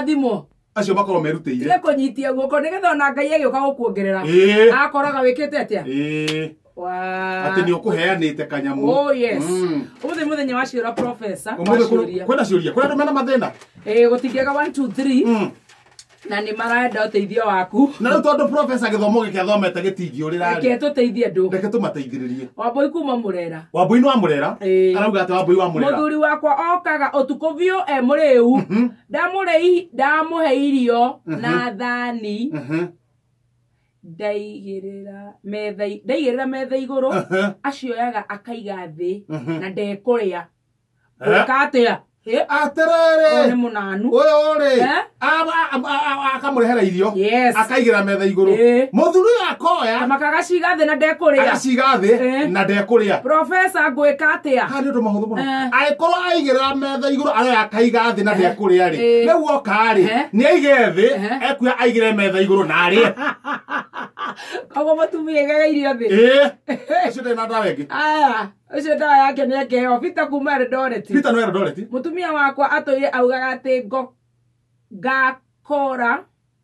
kũrathimwo acio makorwo merutĩire tige kũnyitia guoko nĩgetha ona ngai agĩũka gũkuongerera Ĩĩ. akoraga wĩkĩte atĩa Ĩĩ. Wa- atĩ nĩ ũkũheanĩte kanyamũ Oh, yes. Mm. ũmũthĩ mũthenya wa ciũra profesa Ũmũthĩ kũ- waciũria kwĩna ciũria kwĩna andũ mena mathĩna Eh, gũtingĩaga 1 2 3 Mm. na nĩ marenda ũteithio waku na rĩu tondũ profesa gĩthomo gĩkĩ athomete gĩtingĩũrĩra reke tũteithie andũ reke tũmateithĩrĩrie wambũi kuma mũrera wambui nĩ wa mũrera Ĩĩ. arauga atĩ wambui wa mũrera mũthuri wakwa okaga ũtukũ biũ e mũrĩu ndamũre i- ndamũhe irio Mhm. na thani Mhm. ndaigĩrĩra metha i- ndaigĩrĩra metha igũrũ Aha. acioyaga akaiga thĩ Mhm. na ndekũrĩa Eh? gwĩka atĩa Ĩ, ũyũ nĩ atĩrĩrĩ mũnanu ũyũ rĩ Eh? akamũrehera irio yes akaigĩra metha igũrũ Eh. mũthuri ũyũ akoya kamaka agaciga thĩ na ndekũrĩa agaciga thĩ Eh. na ndekũrĩa profesa ngwĩka atĩa handå tå mahå thå må no Eh. angä korwo aigä rä ra atha iguru aroya akaiga thi na Ehe. ndekuria ri Ĩĩ. riu oka ri Ehe. ni aige thi Ehe. ekuya aigire metha iguru na arie koguo mũtumia igaga irio thĩ ĩĩ ucio ndari na ndawa ingi aya ũcio ndawa yake nĩ ekeheo bita kuma eldoret peter no erodoreti mũtumia wakwa atũire augaga atĩ ngo ngakora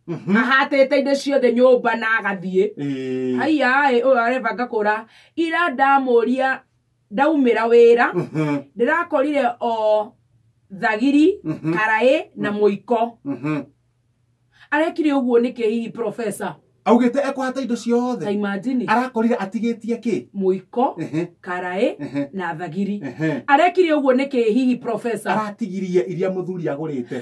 ahatĩte indo ciothe nyũmba na agathiĩ aiyaĩ ũyũ areba ngakũra ira ndamũria ndaumĩra wĩra Mhm. ndĩrakorire o thagiri Mhm. karaĩ na mũiko Mhm. arekire ũguo nĩkĩ hihi profesa augĩte ekũhata indo ta ciothe imajini arakorire atigĩtie kĩ mũiko Ehe, karaĩ ehe, na thagiri ehe. arekire ũguo nĩkĩ hihi profesa aratigirie iria mũthuri agũrĩte